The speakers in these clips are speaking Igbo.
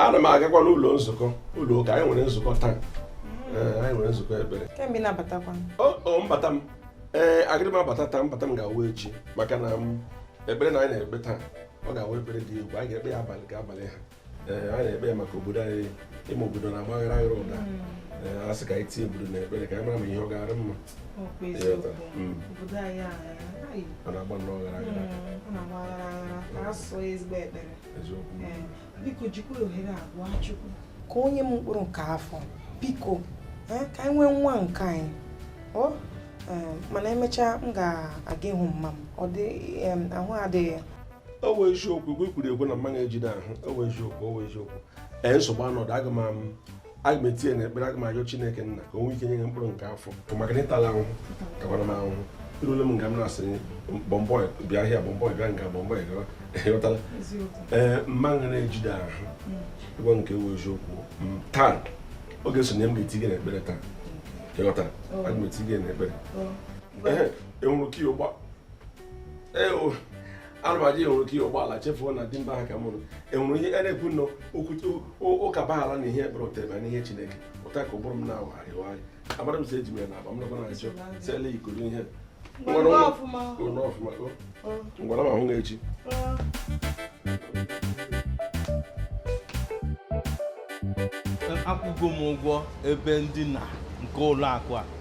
ana m agakwanụ ụlọ nzukọ ụlọ ụka anyị nwere nzukọ taa eh, anyị nwere nzukọ ekpere mbata m ee eh, agịrị m abata taa mbata m ga-awụ echi maka na ekpere na anyị na-ekpe taa ọ ga-awụ ekpere dị egwu anyị ga-ekpe ya abalị ga abalị ha eh, a na-ekpe maka obodo anyị ịma obodo na-agba aghara aghara ụda hmm. eh, a sị ka anyị tinye obodo na ekpere ka anyị mara ma ihe ọ ga-adị mma hmm. a na-agba nnọọ ghara aghara ka o nye m mkpụrụ nke afọ biko eh, ka anyị nwee nwa nke anyị oh, mana emechaa m ga-aga ịhụ mma m ọ dị ahụ adịghị ọ wụ eziokwu ihe ị kwuru ekwe na mma unu ejidụ ahụ ọ wụ eziokwu ọ wụ eziokwu ee nsogbu anọdụ aga m am- aga m etinye na ekpere aga m ayọ chineke nna ka o nwee ike nye gị mkpụrụ nke afọ bụ maka na ịtala ahụhụ takwara m ahụhụ irule m nga m na-asị bọmbọị bịa ahịa bọmbọị bịa nga bọmbọị gawa ịghọtala ee mma unu ejidụ ahụ ịgwa nke wụ eziokwu m taa oge sonye m ga-eti gị na ekpere taa ịghọtara aga m eti gị na ekpere Ehe, enwere ka ya ụgba alụmaji enwere ike ihe ụgbọala chefuo na di mba ha ka mụrụ enwere ihe a na-ekwu na ụka bahara na ihe ekpere otebe na ihe chineke ọ dị ka ụbụrụ m na-awagharị awagharị amadụ m si eji m ya na agba m nakwa na achọ sele ikoro ihe m gwara m hụ gị echi akwụgo m ụgwọ ebe ndina nke ụlọ akwa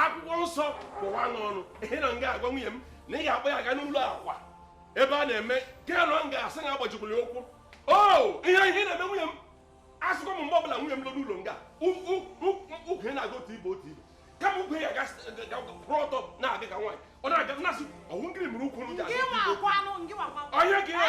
akwụkwọ nsọ kpọwa n'ọnụ ihe na m ga-agwa nwunye m na ị ga-akpọ ya ga n'ụlọ akwa ebe a na-eme nke na m ga-asị na agbajikwuru ya ukwu o oh, ihe ihe na-eme nwunye m asịkwa m mgbe ọbụla nwunye m nọ n'ụlọ nga ukwu ya na-aga otu ibe otu ibe kama ukwu ya ga-akwụrụ ọtọ na-aga ka nwaanyị ọ na-aga na-asị ọ wụ ngịrị mere ukwu m ji aga onye ka ya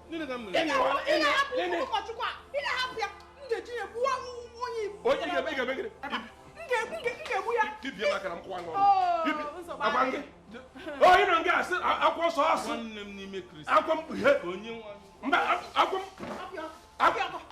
onye nọ nga asị akwụkwọ nsọ asị akwụkwọ mkpughe mba akwụkwọ